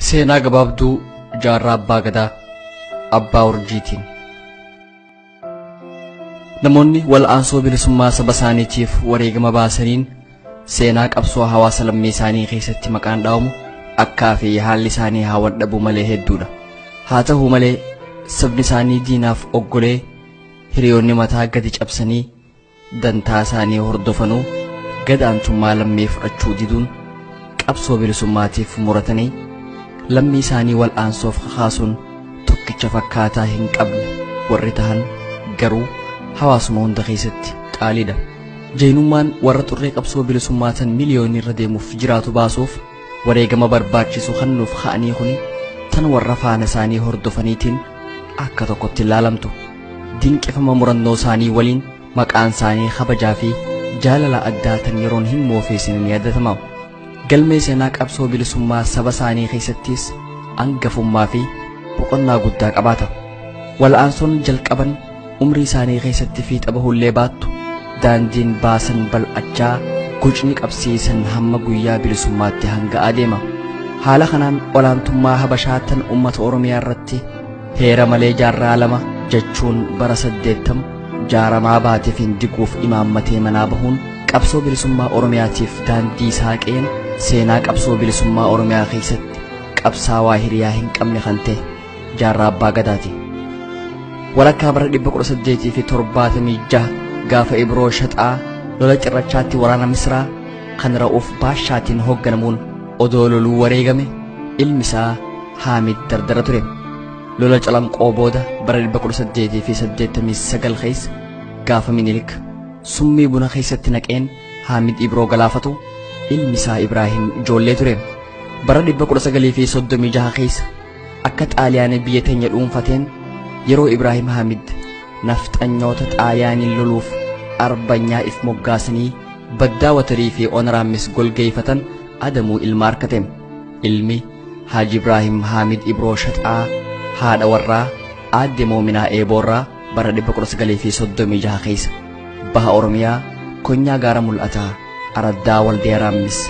Seenaa gabaabduu jaarraa abbaa gadaa abbaa urjiitiin. Namoonni wal'aansoo bilisummaa saba isaaniitiif wareegama baasaniin seenaa qabsoo hawaasa lammii isaanii keessatti maqaan dha'amu akkaa fi haalli isaanii haa waldhabuu malee hedduudha. Haa ta'u malee sabni isaanii diinaaf oggolee hiriyoonni mataa gadi cabsanii dantaa isaanii hordofanuu gadaantummaa lammii fudhachuu diduun qabsoo bilisummaatiif muratanii lammii isaanii wal'aansoof kakaasuun tokkicha fakkaataa hin qabne warri tahan garuu hawaasuma hunda keessatti qaaliidha. Jaynummaan warra xurree qabsoo bilisummaa tan miliyoonii irra deemuuf jiraatu baasuuf wareegama barbaachisu kan nuuf ka'anii kuni tan warra faana isaanii hordofaniitiin akka tokkotti ilaalamtu dinqifama murannoo isaanii waliin maqaan isaanii kabajaa fi jaalala addaa tan yeroon hin moofeesine ni yaadatama galmee seenaa qabsoo bilisummaa saba isaanii keessattis angafummaa fi boqonnaa guddaa qabaata wal'aansoon jalqaban umrii isaanii keessatti fiixa bahullee baattu daandiin baasan bal'achaa gucni qabsiisan hamma guyyaa bilisummaatti hanga adeema haala kanaan olaantummaa habashaa tan ummata oromiyaa irratti heera malee jaarraa lama jechuun bara saddeettamu jaaramaa baateef hin diguuf imaammatee manaa bahuun qabsoo bilisummaa oromiyaatiif daandii saaqeen seenaa qabsoo bilisummaa oromiyaa keessatti qabsaawaa hiriyaa hin qabne kan ta'e jaarraa abbaa gadaati walakkaa bara 1876 gaafa ibroo shaxaa lola cirrachaatti waraana misraa kan ra'uuf baashaatiin hoogganamuun odoo loluu wareegame ilmi isaa haamid dardara ture lola calanqoo booda bara 1889 keessa gaafa minilik summii buna keessatti naqeen haamid ibroo galaafatu ilmi isaa ibraahim ijoollee ture bara 1936 keessa Akka Xaaliyaanii biyya teenya dhuunfateen yeroo Ibraahim Hamid nafxanyoota Xaaliyaaniin loluuf arbanyaa if moggaasanii baddaa watarii fi onaraammis golgeeyfatan adamuu ilma arkate. Ilmi Haaji Ibraahim Haamid Ibroo Shaxaa haadha warraa aadde Moominaa Eeboorraa bara 1936 keessa baha Oromiyaa konyaa gaara mul'ataa araddaa Waldiyaa Raammis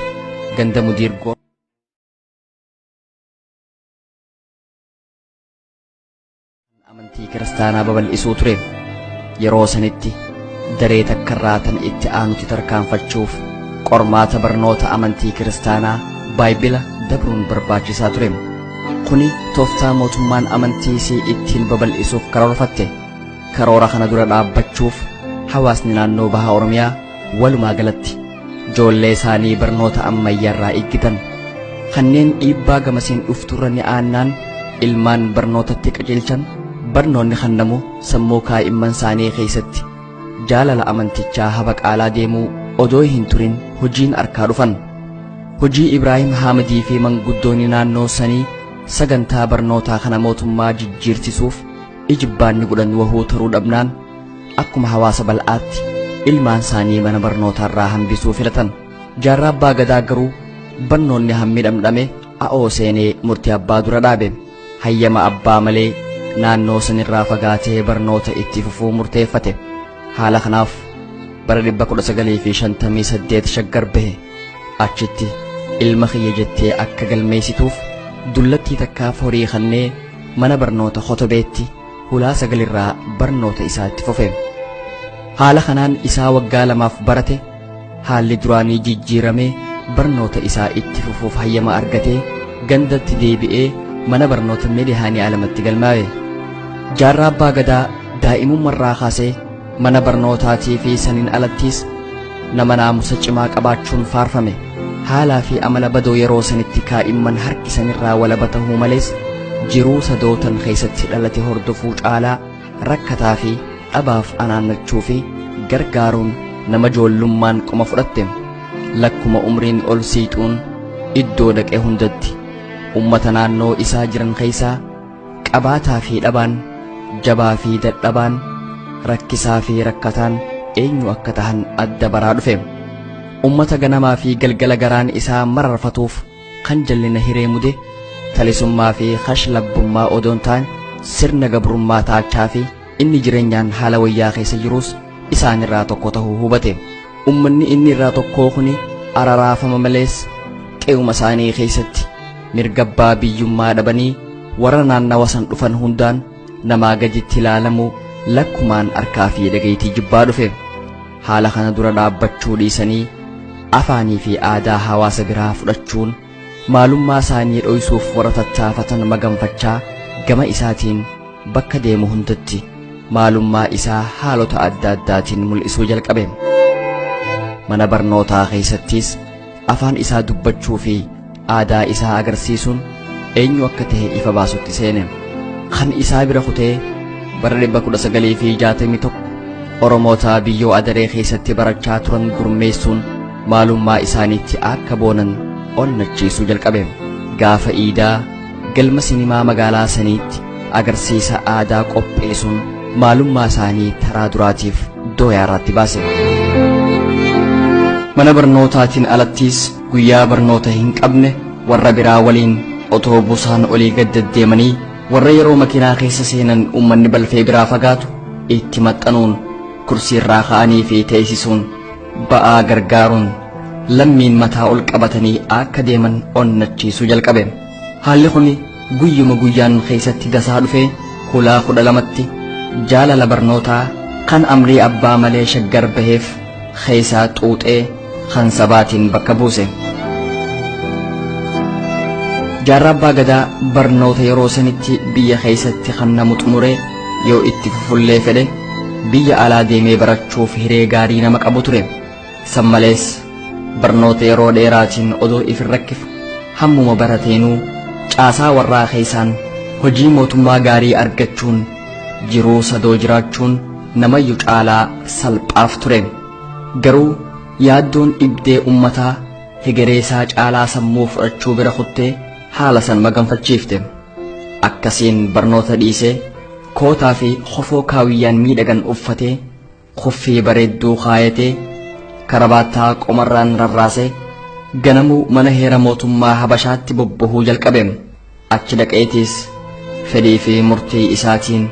ganda Mudiirgoo amantii kiristaanaa babal'isuu ture yeroo sanitti daree takka irraa tan itti aanutti tarkaanfachuuf qormaata barnoota amantii kiristaanaa baayibila dabruun barbaachisaa ture kuni tooftaa mootummaan amantii isii ittiin babal'isuuf karoorfatte karoora kana dura dhaabbachuuf hawaasni naannoo baha oromiyaa Walumaa galatti ijoollee isaanii barnoota ammayyaarraa eeggitan kanneen dhiibbaa gamasiin dhufturra ni aannaan ilmaan barnootatti qajeelchan barnoonni kennamu sammuu kaa'imman isaanii keessatti jaalala amantichaa habaqaalaa deemuu odoo hin turin hojiin arkaa dhufan. Hojii Ibraahim Haamadii fi manguddoonni naannoo sanii sagantaa barnootaa kana mootummaa jijjiirsisuuf ijibbaanni godhan wahuu taruu dhabnaan akkuma hawaasa bal'aatti ilmaan isaanii mana barnootaarraa hambisuu filatan jaarraa abbaa gadaa garuu barnoonni hammi dhamdhame a'oo seenee murtii abbaa dura dhaabe hayyama abbaa malee naannoo sanirraa fagaatee barnoota itti fufuu murteeffate haala kanaaf bara 1958 shaggar bahe achitti ilma kiyya jettee akka galmeessituuf dullattii takkaaf horii kannee mana barnoota kotobeetti hulaa sagalirraa barnoota isaa itti fufe. Haala kanaan isaa waggaa lamaaf barate haalli duraanii jijjiiramee barnoota isaa itti fufuuf hayyama argatee gandatti deebi'ee mana barnoota Meedihaanii Alamatti galmaawe. Jaarraa Abbaa Gadaa daa'imummarraa kaasee Mana barnootaatii fi saniin alattiis nama naamusa cimaa qabaachuun faarfame. Haalaa fi amala badoo yeroo sanitti kaa'imman harkisanirraa walaba ta'uu malees jiruu sadootan keessatti dhalate hordofuu caalaa rakkataa fi dhabaaf anaannachuu fi gargaaruun nama joollummaan qoma fudhatte. Lakkuma umriin ol siixuun iddoo dhaqe hundatti ummata naannoo isaa jiran keessaa Qabaataa fi dhabaan, jabaa fi dadhabaan, rakkisaa fi rakkataan eenyu akka tahan adda baraa dhufe. Ummata ganamaa fi galgala garaan isaa mararfatuuf kan jallina hiree mude talisummaa fi kashlabbummaa odoon taan sirna gabrummaa taachaa fi Inni jireenyaan haala wayyaa keessa jiruus isaan irraa tokko ta'uu hubate. Ummanni inni irraa tokkoo kuni araraafama malees qe'uma isaanii keessatti mirga abbaa biyyummaa dhabanii warra naannawa san dhufan hundaan namaa gaditti ilaalamu lakkumaan harkaa fi dhagaytii jibbaa dhufe. Haala kana dura dhaabbachuu dhiisanii afaanii fi aadaa hawaasa biraa fudhachuun maalummaa isaanii dhoysuuf warra tattaafatan maganfachaa gama isaatiin bakka deemu hundatti maalummaa isaa haalota adda addaatiin mul'isuu jalqabe mana barnootaa keessattis afaan isaa dubbachuu fi aadaa isaa agarsiisuun eenyu akka ta'e ifa baasutti seene kan isaa bira kutee bara 1961 oromootaa biyyoo adaree keessatti barachaa turan gurmeessuun maalummaa isaaniitti akka boonan onnachiisuu jalqabe gaafa iidaa galma sinimaa magaalaa saniitti agarsiisa aadaa qopheessuun maalummaa isaanii taraa duraatiif dooyaa irratti baase. mana barnootaatiin alattiis guyyaa barnoota hin qabne warra biraa waliin otoo busaan olii gad deddeemanii warra yeroo makiinaa keessa seenan uummanni balfee biraa fagaatu itti maxxanuun kursiirraa ka'anii fi teessisuun ba'aa gargaaruun lammiin mataa ol qabatanii akka deeman onnachiisuu jalqabe haalli kun guyyuma guyyaan keessatti dasaa dhufe hulaa kudha lamatti jaalala barnootaa kan amrii abbaa malee shaggar baheef keessaa xuuxee kan sabaatiin bakka buuse jaarraa abbaa gadaa barnoota yeroo sanitti biyya keessatti kan namu xumure yoo itti fufullee fedhe biyya alaa deemee barachuuf hiree gaarii nama qabu ture san malees barnoota yeroo dheeraatiin odoo if hin rakkifu hammuma barateenuu caasaa warraa keessaan hojii mootummaa gaarii argachuun jiruu sadoo jiraachuun namayyu caalaa salphaaf ture garuu yaaddoon dhibdee ummataa hegereesaa caalaa sammuu fudhachuu bira kuttee haala san maganfachiifte akkasiin barnoota dhiisee kootaa fi kofoo kaawiyyaan miidhagan uffatee kuffii bareedduu kaayatee karabaattaa qomarraan rarraasee ganamuu mana heera mootummaa habashaatti bobbahuu jalqabe achi dhaqeetiis fedhii fi murtii isaatiin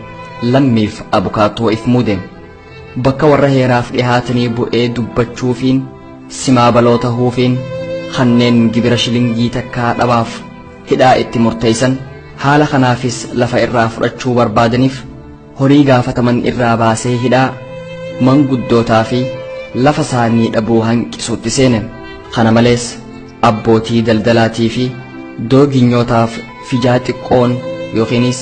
lammiif abukaatoo if muude. bakka warra heeraaf dhihaatanii bu'ee dubbachuufiin simaa baloo tahuufiin kanneen gibira shilingii takkaa dhabaaf hidhaa itti murteeysan haala kanaafis lafa irraa fudhachuu barbaadaniif horii gaafataman irraa baasee hidhaa manguddootaa fi lafa isaanii dhabuu hanqisuutti seene kana malees abbootii daldalaatii fi dooginyootaaf fijaa xiqqoon yookiinis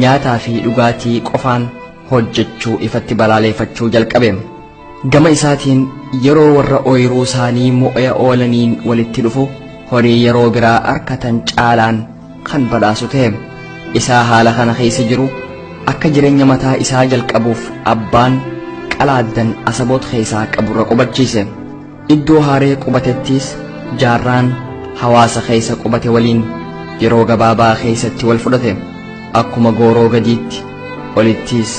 nyaataa fi dhugaatii qofaan hojjechuu ifatti balaaleeffachuu jalqabe. Gama isaatiin yeroo warra ooyiruu isaanii mo'ee oolaniin walitti dhufu horii yeroo biraa arkatan caalaan kan badhaasu ta'e. Isaa haala kana keessa jiru akka jireenya mataa isaa jalqabuuf abbaan qalaaddan asaboot keessaa qaburra qubachiise. Iddoo haaree qubatettiis jaarraan hawaasa keessa qubate waliin yeroo gabaabaa keessatti wal fudhate akkuma gooroo gadiitti olittiis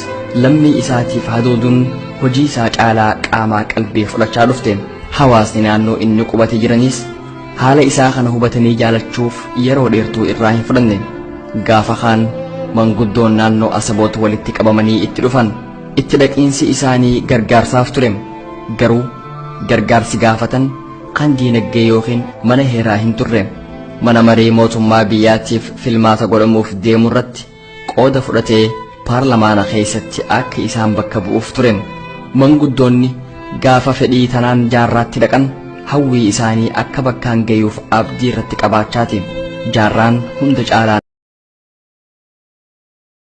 lammii isaatiif hadooduun hojii isaa caalaa qaamaa qalbii fudhachaa dhufte hawaasni naannoo inni qubate jiranis haala isaa kana hubatanii jaalachuuf yeroo dheertuu irraa hin fudhanne gaafa kaan manguddoon naannoo asaboot walitti qabamanii itti dhufan itti dhaqiinsi isaanii gargaarsaaf ture garuu gargaarsi gaafatan kan diinagdee yookiin mana heeraa hin turre mana marii mootummaa biyyaatiif filmaata godhamuuf deemu irratti qooda fudhatee paarlamaana keessatti akka isaan bakka bu'uuf ture manguddoonni gaafa fedhii tanaan jaarraatti dhaqan hawwii isaanii akka bakkaan gayuuf abdii irratti qabaachaati jaarraan hunda caalaa